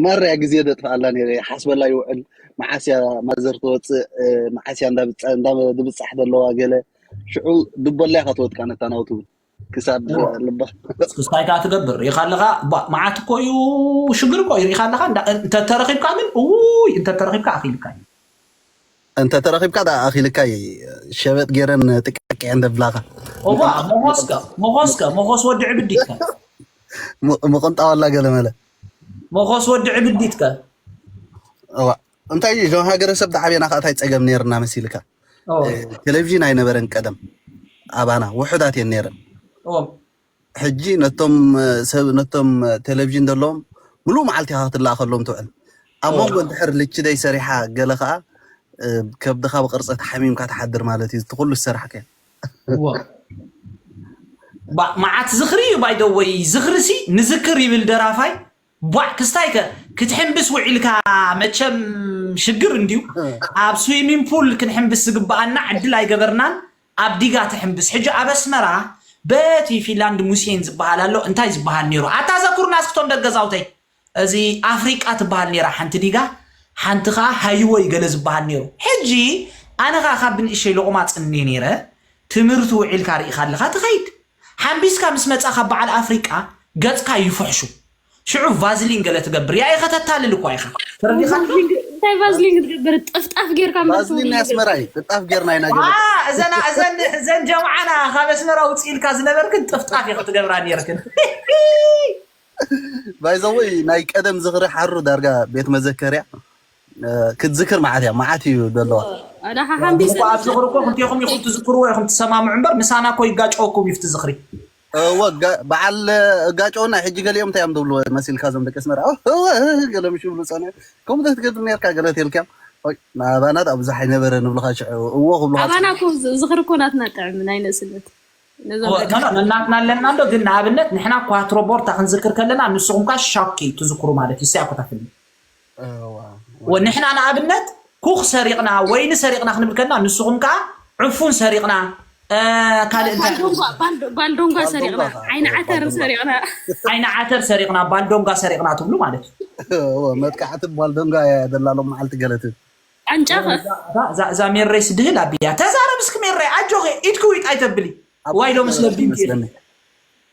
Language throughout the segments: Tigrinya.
ማራ እያ ግዜ ዘጥፍኣላ ነይረ ይሓስበላ ይውዕል መዓስ እያ ማዘር ትወፅእ እ፣ መዓስ እያ እንዳብፃ- እንዳ- ድብፃሕ ዘለዋ ገለ ሽዑ ድበላ ኢኻ ትወድቃ ነታ ናውቲ እውን ክሳብ እወ እ፣ ልባ እንታይ ከዓ ትገብር ርኢኻ ኣለኻ ባ- መዓት እኮ እዩ ሽግር እኮ እዩ ርኢኻ ኣለኻ እንዳ- እንተተረኺብካ ግን እውይ እንተተረኺብካ ኣኺልካ እዩ እንተ ተረኺብካ ደኣ ኣኺልካ እየ ሸበጥ ገይረን ጥቅዕቅዐን ደብላኻ ኦባ ሞኾስካ ሞኾስካ ሞኾስ ወዲ ዕብዲትካ ምቕንጣዋላ ገለመለ ሞኾስ ወዲ ዕብዲትካ እዋ እንታይ እዩ እዞም ሃገረሰብ ዳዓበና ከዓ እንታይ ፀገም ነይርና መሲልካ ኦ ቴሌቭዥን ኣይነበረን ቀደም ኣባና ውሑዳት እየን ነይረን ኦ ሕጂ ነቶም ሰብ ነቶም ቴሌቭዥን ዘለዎም ምሉእ መዓልቲ ኢኻ ክትለኣኸሎም ትውዕል ኣብ እወ መንጎ እንድሕር ልችደይ ሰሪሓ ገለ ከኣ እ፣ ከብድኻ ብቅርጸት ሓሚምካ ትሓድር ማለት እዩ እቲ ኩሉ ዝሰራሕካዮ እወ ባ- መዓት ዝኽሪ እዩ ባይደወይ ዝኽሪ ሲ ንዝክር ይብል ደራፋይ ቧዕ ክስታይ ከ ክትሕምብስ ውዒልካ መቸም ሽግር እንድዩ ኣብ ስዊሚን ፑል ክንሕምብስ ዝግበኣና ዕድል ኣይገበርናን ኣብ ዲጋ ትሕምብስ ሕጂ ኣብ ኣስመራ በቲ ፊንላንድ ሙሴን ዝበሃል ኣሎ እንታይ ዝበሃል ነይሩ ኣታ ዘኩርና እስክቶም ደገዛውተይ እዚ ኣፍሪቃ ትበሃል ነይራ ሓንቲ ዲጋ ሓንቲ ከኣ ሃይወይ ገለ ዝበሃል ነይሩ ሕጂ ኣነ ከኣ ካብ ብንእሸይ ሎቕማጽ እንየ ነይረ ትምህርቲ ውዒልካ ርኢኻ ኣለኻ ትኸይድ ሓምቢስካ ምስ መጻካ ባዓል ኣፍሪቃ ገጽካ ይፍሕሹ ሽዑ ቫዝሊን ገለ ትገብር ያኢ ከተታልል እኳ ኢካ ተረዲካዶ። እንታይ ቫዝሊን ክትገብር ጥፍጣፍ ጌርካ እምበር ቫዝሊን ናይ ኣስመራ እዩ ጥፍጣፍ ጌርና ኢና ገለ ኣኣ እዘና እዘን እዘን ጀምዓና ካብ ኣስመራ ውጽ ኢልካ ዝነበርክን ጥፍጣፍ ኢኪ ትገብራ ኔርክን ሂሂ። ባይዘወይ ናይ ቀደም ዝኽሪ ሓሩ ዳርጋ ቤት መዘከርያ ክትዝክር መዓት እያ መዓት እዩ ደለዋ። ግን እኮ ኣብ ዝኽሪ እኮ ክልቴኹም ኢኹም ትዝክርዎ ኢኹም ትሰማምዑ እምበር ምሳና እኮ ይጋጨወኩም እዩ ኣብቲ ዝኽሪ። እወ በዓል እጋጨውና ሕጂ ገሊኦም እንታይ እዮም ዝብሉ መሲልካ እዞም ደቂ ኣስመራ እወ እህ ገለ ምሽ ይብሉ ጸኒሖም ከምኡ ክትገብር ነርካ ገለ ተልካዮም ናባና ዳኣ ብዙሕ ኣይነበረን ይብሉኻ ሽዑ እዎ ክብሉኻ ኣባና እኮ ዝኽሪ እኮ ናትና ጥዕም ናይ ንእስነት ነናትና ኣለና እንዶ ግን ንኣብነት ንሕና ኳትሮ ቦርታ ክንዝክር ከለና ንስኹም ካ ሻኪ ትዝክሩ ማለት እዩ ሲያኮታትኒ ንሕና ንኣብነት ኩኽ ሰሪቕና ወይኒ ሰሪቕና ክንብል ከና ንስኹም ከኣ ዕፉን ሰሪቕና ካልእ እንታይ ባልዶንጓ ሰሪቕና ዓይኒ ዓተር ሰሪቕና ዓይኒ ዓተር ሰሪቕና ባልዶንጓ ሰሪቕና ትብሉ ማለት እዩ መጥቃዕቲ ባልዶንጓ እያ ደላሎም መዓልቲ ገለት ኣንጫኸ እዛ ሜረይ ስድህል ኣቢያ ተዛረብ እስኪ ሜረይ ኣጆኺ ኢድኪ ዊጥ ኣይተብሊ ዋይዶ ምስለብዲ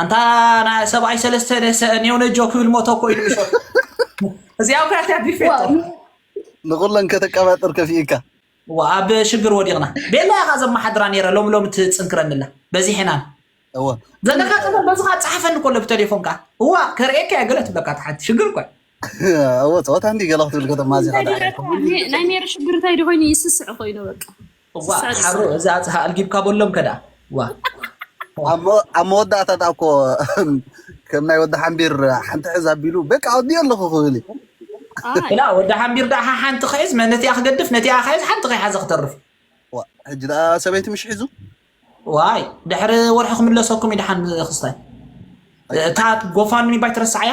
ኣንታ ናይ ሰብኣይ ሰለስተ ደሰ ኔው ነጆ ክብል ሞቶ እኮ ኢሉ ምሾት እዚኣ እኮ ያትያ ቢፌቶ ንኹለን ከተቀባጥር ከፊኢካ ኣብ ሽግር ወዲቕና ቤላ ኢኻ ዘመሓድራ ነይረ ሎሚ ሎሚ ትፅንክረኒ ኣላ በዚሕናን እወ ዘለካ ፀገም በዝኻ ፀሓፈኒ ኮሎ ብቴሌፎን ከዓ እዋ ከርእየካ እየ ገለ ትብለካ ተሓቲ ሽግር እኮ እወ ፀወታ እንዲ ገለ ክትብል ከተማዚኻ ናይ ሜሪ ሽግር እንታይ ዶ ኮይኑ ይስስዕ ኮይኑ በቃ እዋእ ሓሩ እዚ ኣጽሃ ኣልጊብካ በሎም ከዳኣ ዋእ ኣብ መወዳእታ ዳኣ እኮ ከም ናይ ወዲ ሓንቢር ሓንቲ ሕዝ ኣቢሉ በቃ ኣውዲዮ ኣለኹ ክብል እዩ ላ ወዲ ሓንቢር ዳኣ ሓንቲ ክሕዝ ነቲኣ ክገድፍ ነቲኣ ክሕዝ ሓንቲ ከይሓዘ ክተርፍ ዋ፣ ሕጂ ዳኣ ሰበይቲ ምሽ ሒዙ ዋይ ድሕሪ ወርሒ ክምለሰኩም እዩ ድሓን ክስታይ እታ ጎፋንሚ ባይ ትረስዓያ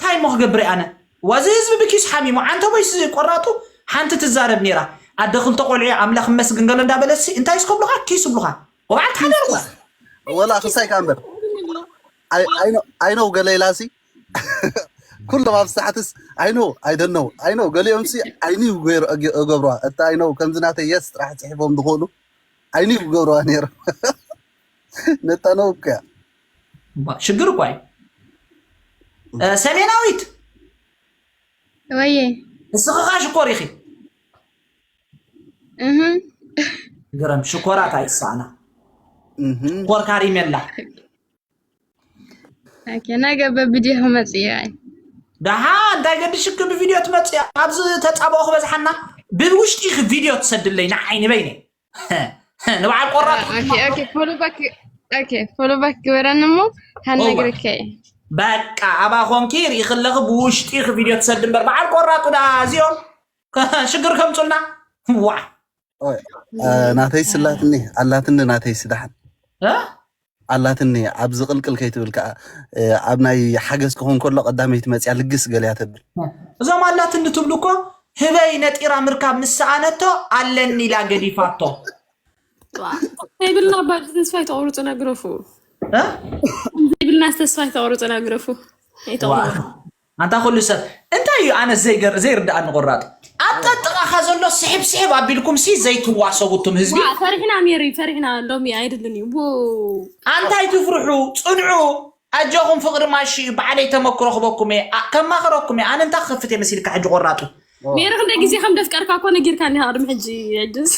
ታይ እሞ ክገብርየ ኣነ ዋእ እዚ ህዝቢ ብኪሱ ሓሚሙ ዓንተቦይ ሲ ቆራጡ ሓንቲ ትዛረብ ነይራ ኣደ ክልተ ቆልዑየ ኣምላክ ይመስግን ገለ እንዳበለት ሲ እንታይ ሲ ክብሉካ ኪስ ይብሉካ ወባዕልካ ሓዳር እኮ ወላ ክሳይ ከኣ እምበር ኣይነው ገለ ኢላሲ ኩሎም ኣብ ሳሕትስ ኣይነው ኣይደነው ኣይነው ገሊኦምሲ ዓይንዩ ገይሩ እገብረዋ እቲ ኣይነው ከምዚ ናተይ የስ ጥራሕ ፅሒፎም ዝኽእሉ ዓይንዩ ክገብረዋ ነይሮም ነታ ነው እኮ እያ እባ ሽግር እኳ እዩ እ፣ ሰሜናዊት ወየ ንስኺ ኸኣ ሽኮር ኢኺ እህ ግርም ሽኮራት ኣይሳኣና እህ ሽኮር ካሪሜላ ኦኬ ነገ በብድዮ ክመጽእ እየ ኣይ ደሓ እንታይ ገድሽኪ ብቪድዮ ትመፅእ ኣብዚ ተፃብኦ ክበዝሓና ብውሽጢ ኢኺ ቪድዮ ትሰድለይ ንዓይ ንበይነይ ንበዓል ቆራጥ ፎሎባክ ግበረኒ እሞ ሃነግርካ እዩ በቃ ኣባ ኮንኪ ርኢ ክለኺ ብውሽጢ ቪድዮ ትሰድ እምበር በዓል ቆራጡ ዳ እዚኦም ሽግር ከምፁልና ዋ ናተይ ስላትኒ ኣላትኒ ናተይ ስዳሓን ኣላትኒ ኣብዚ ቅልቅል ከይትብል ከኣ ኣብ ናይ ሓገዝ ክኾን ከሎ ቀዳመይቲ መጽያ ልግስ ገለያ ተብል። እዞም ኣላትኒ ትብሉ እኮ ህበይ ነጢራ ምርካብ ምስ ሰኣነቶ ኣለኒ ኢላ ገዲፋቶ። ዘይብልና ባጅ ተስፋ ኣይተቑርፁና ግረፉ እ ዘይብልና ተስፋ ኣይተቑርፁና ግረፉ ኣይተቑርፁ ኣንታ ኩሉ ሰብ እንታይ እዩ ኣነስ ዘይገር ዘይርድኣኒ ቆራጥ ኣብ ጠጥቓኻ ዘሎ ስሕብ ስሕብ ኣቢልኩም ሲ ዘይትዋሰቡ እቱም ህዝቢ ዋ ፈሪሕና ሜሪ ፈሪሕና ሎሚ ኣይድልን እዩ ው ኣንታይ ትፍርሑ ጽንዑ ኣጆኹም ፍቕሪ ማሺ እዩ ብዓለይ ተመክሮ ክበኩም እየ ኣ- ከማኽረኩም እየ ኣነ እንታይ ክኸፍት እየ መሲልካ ሕጂ ቆራጡ ሜሪ ክንደይ ግዜ ከም ደፍቀርካ እኮ ነጊርካኒ ኢኻ ቅድሚ ሕጂ ዕድስ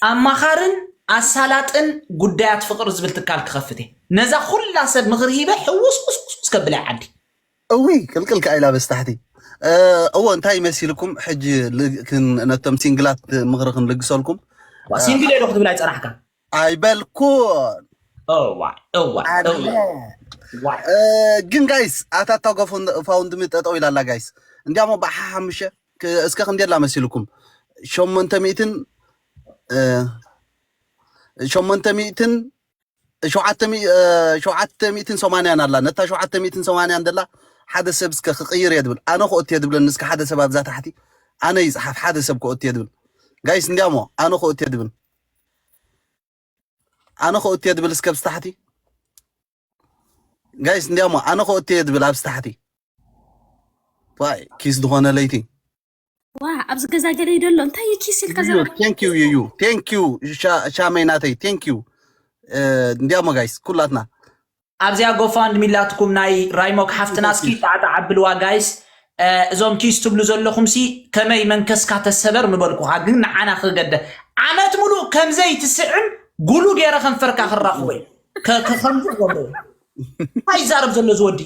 ኣማኻርን ኣሳላጥን ጉዳያት ፍቅሪ ዝብል ትካል ክኸፍት እየ ነዛ ኩላ ሰብ ምኽሪ ሂበ ሕውስ ቁስቁስ ከብላ እየ ዓዲ እዊ ቅልቅል ከኣይላ በስታሕቲ እዎ እንታይ መሲልኩም ሕጂ ል- ክን- ነቶም ሲንግላት ምኽሪ ክንልግሰልኩም ሲንግል የዶ ክትብል ኣይፀናሕካ ኣይበልኩን እዋይ እዋይ ኣነ እዋይ ዋይ እ፣ ግን ጋይስ ኣታ ታጎ ፎን- ፋውንድሚ ጠጠው ኢላ ኣላ ጋይስ እንዲያሞ ባሓ ሓሙሸ ክ- እስከ ክንደይ ኣላ መሲልኩም ሸሞንተ ሚእትን እ፣ ሸሞንተ ሚእትን ሸውዓተ ሚእ- እ፣ ሸውዓተ ሚእትን ሰማንያን ኣላ ነታ ሸውዓተ ሚእትን ሰማንያን ደላ ሓደ ሰብ እስከ ክቅይር እየ ድብል ኣነ ክኦት እየ ድብለኒ እስከ ሓደ ሰብ ኣብዛ ታሕቲ ኣነ ይፅሓፍ ሓደ ሰብ ክኦት እየ ድብል ጋይስ እንዲያሞ ኣነ ክኦት እየ ድብል ኣነ ኮ እቴ ድብል እስከ ብስታሕቲ ጋይስ እንዲያሞ ኣነ ኮ እቴ ድብል ኣብ ስታሕቲ ዋይ ኪስ ዝኾነ ለይቲ ዋ ኣብዚ ገዛ ገለ ይደሎ እንታይ እዩ ኪስ ኢልካ ዘራ ቴንክ ዩ ዩ ቴንክ ዩ ሻመይ ናተይ ቴንክ ዩ እንዲያሞ ጋይስ ኩላትና ኣብዚኣ ጎፋንድሚ ላትኩም ናይ ራይሞክ ሓፍትና እስኪ ጣዕጣዕ ኣብልዋ ጋይስ እዞም ኪስ ትብሉ ዘለኹም ሲ ከመይ መንከስካ ተሰበር ምበልኩኻ ግን ንዓና ክገደ ዓመት ሙሉእ ከምዘይ ትስዕም ጉሉ ገይረ ከንፈርካ ክራኽቦ እዩ ከምዚ ክገብሮ እዩ እንታይ ይዛረብ ዘሎ ዝወዲ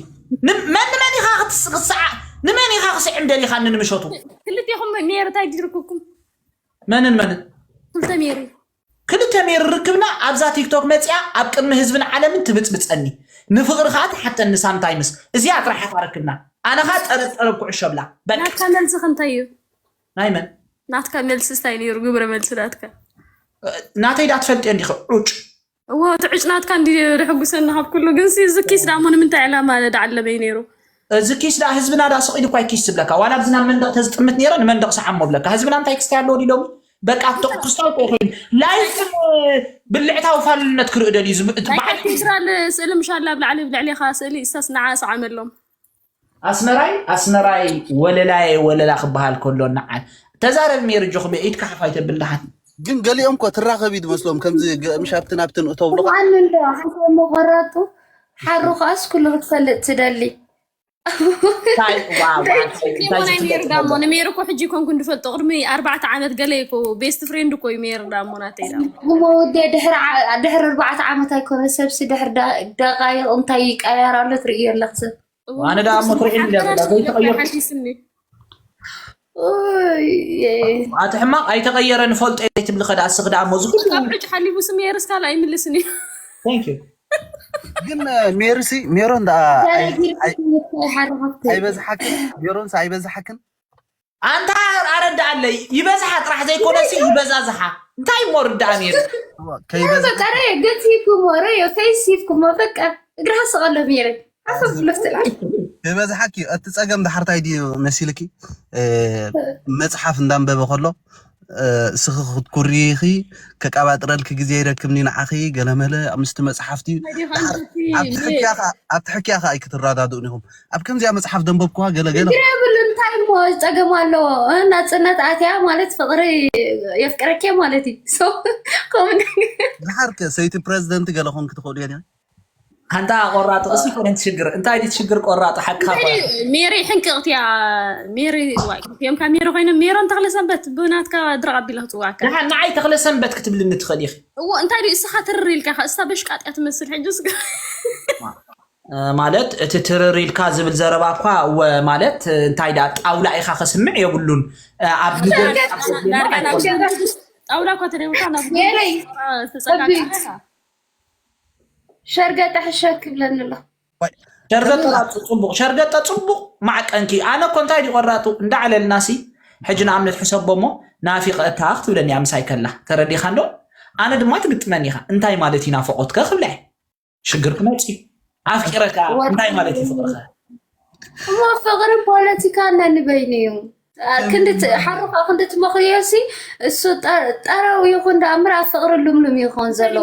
መን ንመን ኢኻ ክትስዓ ንመን ኢኻ ክስዕም ደሊኻ ንምሸቱ ክልቴኹም ሜሪ እንታይ ዲርኩኩም መንን መንን ክልተ ሜሪ ክልተ ሜሪ ርክብና ኣብዛ ቲክቶክ መጺኣ ኣብ ቅድሚ ህዝብን ዓለምን ትብጽብጸኒ ንፍቅሪ ከኣ ትሓተኒ ሳምታይምስ እዚኣ ጥራሕ ኣታ ርክብና ኣነ ከኣ ጠረብ ጠረብ ኩዕሾ ብላ በቃ። ናትካ መልስኽ እንታይ እዩ? ናይ መን? ናትካ መልስስ ታይ ነይሩ ግብረ መልሲ ናትካ? ናተይ ዳ ትፈልጥዮ እንዲኺ ዑጭ። እዎ እቲ ዑጭ ናትካ እንዲ ደሕጉሰኒ ካብ ኩሉ ግን ሲ እዚ ኪስ ዳሞ ንምንታይ ዕላማ ዳዓለበይ ነይሩ? እዚ ኪስ ዳኣ ህዝብና ዳኣ ስቕ ኢሉ እኳ እዩ ኪስ ዝብለካ ዋላ ኣብዚ ናብ መንደቕ ተዝጥምት ነይረ ንመንደቕ ሰዓሞ እብለካ ህዝብና እንታይ ክስታይ ኣለዎ ድዩ ሎሚ በቃ ኣብቶም ክስታውቆ ኮይኑ ላይፍ ብልዕታዊ ፋልነት ክርኢ ደልዩ በዓል ፌደራል ስእሊ ምሻላ ኣብ ላዕሊ ብልዕሌኻ ስእሊ እሳስ ንዓ ሰዓመሎም ኣስመራይ ኣስመራይ ወለላየ ወለላ ክበሃል ከሎ ንዓ ተዛረብ ሜሪ ጆክቤ ኢድካ ሓፍ ኣይተብል ድሓን ግን ገሊኦም እኮ ትራኸብ እዩ ዝመስሎም ከምዚ ምሽ ኣብትን ኣብትን እተብሉ ሓንቲ መቆራጡ ሓሩ ከኣስ ኩሉ ክትፈልጥ ትደሊ እንታይ ዋው እንታይ ዋው እንታይ ትፈልጥዎ እንታይ ናይ ሜሪ ዝፍለጥ ዳሞ ዘሎ ንሜሪ እኮ ሕጂ ኮንኩን ድፈልጦ ቅድሚ ኣርባዕተ ዓመት ገለ እኮ ቤስት ፍሬንድ እኮ እዩ ሜሪ ዳሞ ናተይ ዳሞ እሞ ወዲ ድሕሪ ዓ- ድሕሪ ኣርባዕተ ዓመት ኣይኮነ ሰብሲ ድሕሪ ደ- ደቃይቕ እንታይ ይቀያየር ኣሎ ትርእዮ ኣለኽ ሰብ እዋነ ዋነ ዳሞ ዳሞ ስኒ ትርዒኒ ድያ ሓበራር ዘላ ስኒ ለካ ዘይተቀየርኩ ሓዲስ ስኒ ኣቲ ሕማቕ ኣይተቐየረ ንፈልጦ እየ ትብሊ ከደኣ ስኽ ደኣ ሞዚ ኩሉ ካብ ዕጭ ሓሊፉ ስም የርስካል ኣይምልስን እዩ Thank you። ግን ሜርሲ ሜሮን ደኣ ኣይ- ኣይ- ሓረኻፍቲ ኣይበዝሓክን ሜሮንስ ኣይበዝሓክን ኣንታ ኣረድኣለይ ይበዝሓ ጥራሕ ዘይኮነ ሲ ይበዛዝሓ እንታይ እሞ ርዳኣ ነይሩ እዋ፣ ከይበዝሓ በቃ ረዮ ገዚፍኩሞ ረዮ ከይሲፍኩሞ በቃ እግርኻ ስቐሎ ሜረ ሓሳብ ምፍትላል ዝበዝሓኪ እዩ። እቲ ጸገም ድሓር እንታይ ድዩ መሲልኪ እ፣ መጽሓፍ እንዳንበበ ከሎ እ፣ እስኺ ክትኩርይኺ ከቃባጥረልኪ ግዜ ይረክብኒ ንዓኺ ገለመለ ምስቲ መጽሓፍቲ ናይዲኻ ድሓር እንተቲ ኣብቲ ን ሕክያ ከ ኣብቲ ሕክያ ከ ኣይክትረዳድኡን ኢኹም ኣብ ከምዚኣ መጽሓፍ ደንበብክዋ ገለ ገለ ችግር የብሉ እንታይ እሞ ፀገም ኣለዎ እ፣ ናፅነት ኣትያ ማለት ፍቅሪ የፍቅረኪ ማለት እዩ So፣ ከምኡ ድሓር ከ ሰይቲ ፕረዚደንት ገለ ኮንኪ ትኽእሉ እየን ኣንታ ቆራጥ ርእሲ ኮነ ትሽግር እንታይ ድዩ ትሽግር ቆራጥ ሓቅካ እኮ እዩ። ሜሪ ሕንቅቕት እያ ሜሪ ዋይ እዮም ካብ ሜሪ ኮይኖም ሜሮን ተኽለ ሰንበት ብናትካ ድረቕ ኣቢለ ክፅዋካ ደሓን ንዓይ ተኽለ ሰንበት ክትብልኒ ትኽእል ኢኺ እዎ እንታይ ድዩ እስኻ ትርር ኢልካ ከ እሳ በሽቃጥ እያ ትመስል ሕጂ እስከ እ፣ ማለት እቲ ትርር ኢልካ ዝብል ዘረባ እኳ እወ ማለት እ፣ እንታይ ደኣ ጣውላ ኢኻ ከስምዕ የብሉን እ፣ ኣብ ንጎኒ ዳርጋ ኣብ ዳርጋ ጎድኒ ናብ ኣይኮነን። ጣውላ እኳ ተደውልካ ናብ ሜሪ፣ ትፀጋጋ ሸርገጠ ሕሸክ ይብለኒ ኣሎ ሸርገጠ ፅቡቅ ሸርገጠ ፅቡቅ ማዕቀንኪ ኣነ እኮ እንታይ ድዩ ቆራጡ እንዳዕለልና ሲ ሕጂ ንኣብነት ሕሰቦ እሞ ናፊቀካ ክትብለኒ እያ ምሳይ ከላ ተረዲኻ እንዶ ኣነ ድማ ትግጥመኒ ኢኻ እንታይ ማለት እዩ ናፈቆትከ ክብላ እየ ሽግር ክመፅ እዩ ኣፍቂረካ እንታይ ማለት እዩ ፍቅርኸ እሞ ፍቅሪ ፖለቲካ ነንበይኑ እዩ ክንዲ ሓሩካ ክንዲ ትመኽርዮ ሲ እሱ ጠረው ይኹን ዳኣ እምበር ኣብ ፍቅሪ ልምሉም ይኾን ዘሎ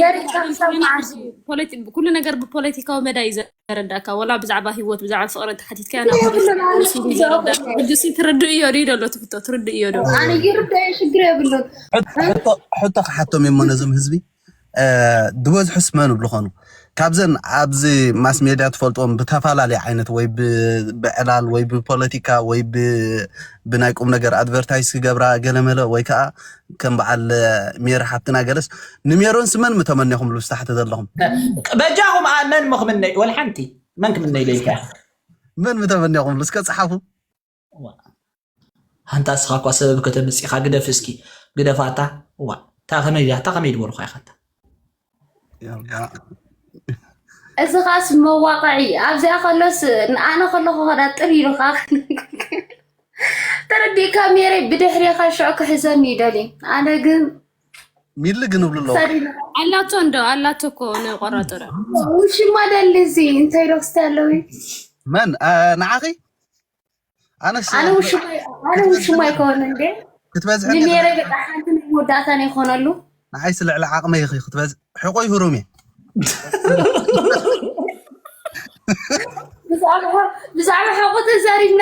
ገሪካ ክሳብ መዓስ እዩ ፖለቲ ኩሉ ነገር ብፖለቲካዊ መዳይ እዩ ዘረዳእካ ወላ ብዛዕባ ህይወት ብዛዕባ ፍቅሪ እንተሓቲትካ ናይ ኩሉ ማለት እዩ ዘረዳእካ ሕጂሲ ትርድእዮ ድዩ ደሎ ትፍቶ ትርድእዮ ዶ ኣነ ይርዳእ ሽግር የብሉን ሕቶ ሕቶ ክሓቶም እዩሞ ነዞም ህዝቢ ዝበዝሑስ መን ብልኾኑ ካብዘን ኣብዚ ማስ ሜድያ ትፈልጥዎም ብተፈላለየ ዓይነት ወይ ብዕላል ወይ ብፖለቲካ ወይ ብናይ ቁም ነገር ኣድቨርታይዝ ክገብራ ገለመለ ወይ ከዓ ከም በዓል ሜሪ ሓፍትና ገለስ ንሜሮን ስመን ምተመኔኹም ልብስ ታሕቲ ዘለኹም በጃኹም መን ምክምነ ወልሓንቲ መን ክምነ ኢለይካ መን ምተመኔኹም ልስከ ፀሓፉ ዋእ ኣንታ እስኻ እኳ ሰበብ ከተምጽእ ኢኻ ግደፍ እስኪ ግደፋ እታ ዋእ እታ ከመይ እያ እታ ከመይ ድበልኳ ኢኻ እታ እዚ ኻስ መዋቕዒ ኣብዚኣ ከሎስ ኣነ ከለኹ ኸዳ ጥር ኢሉኻ ተረዲእካ ሜረ ብድሕሪኻ ሽዑ ክሕዘኒ ይደሊ ኣነ ግን ሚሊ ግን እብሉ ኣለዉ ኣላቶ እንዶ ኣላቶ እኮ ንቆራጦ ውሽማ ደሊ እዚ እንታይ ዶክስቲ ኣለዊ መን ንዓኺ ኣነስ ኣነ ውሽማይ ኣነ ውሽማይ ከሆነ እንዴ ክትበዝሐኒ ንሜረ በቃ ሓንቲ ናይ መወዳእታ ናይ ኾነሉ ንዓይስ ልዕሊ ዓቕመይ ኢኺ ክትበዝ ሕቆይ ህሩም እየ ብዛዕባ ብዛዕባ ሓቆ ተዛሪብና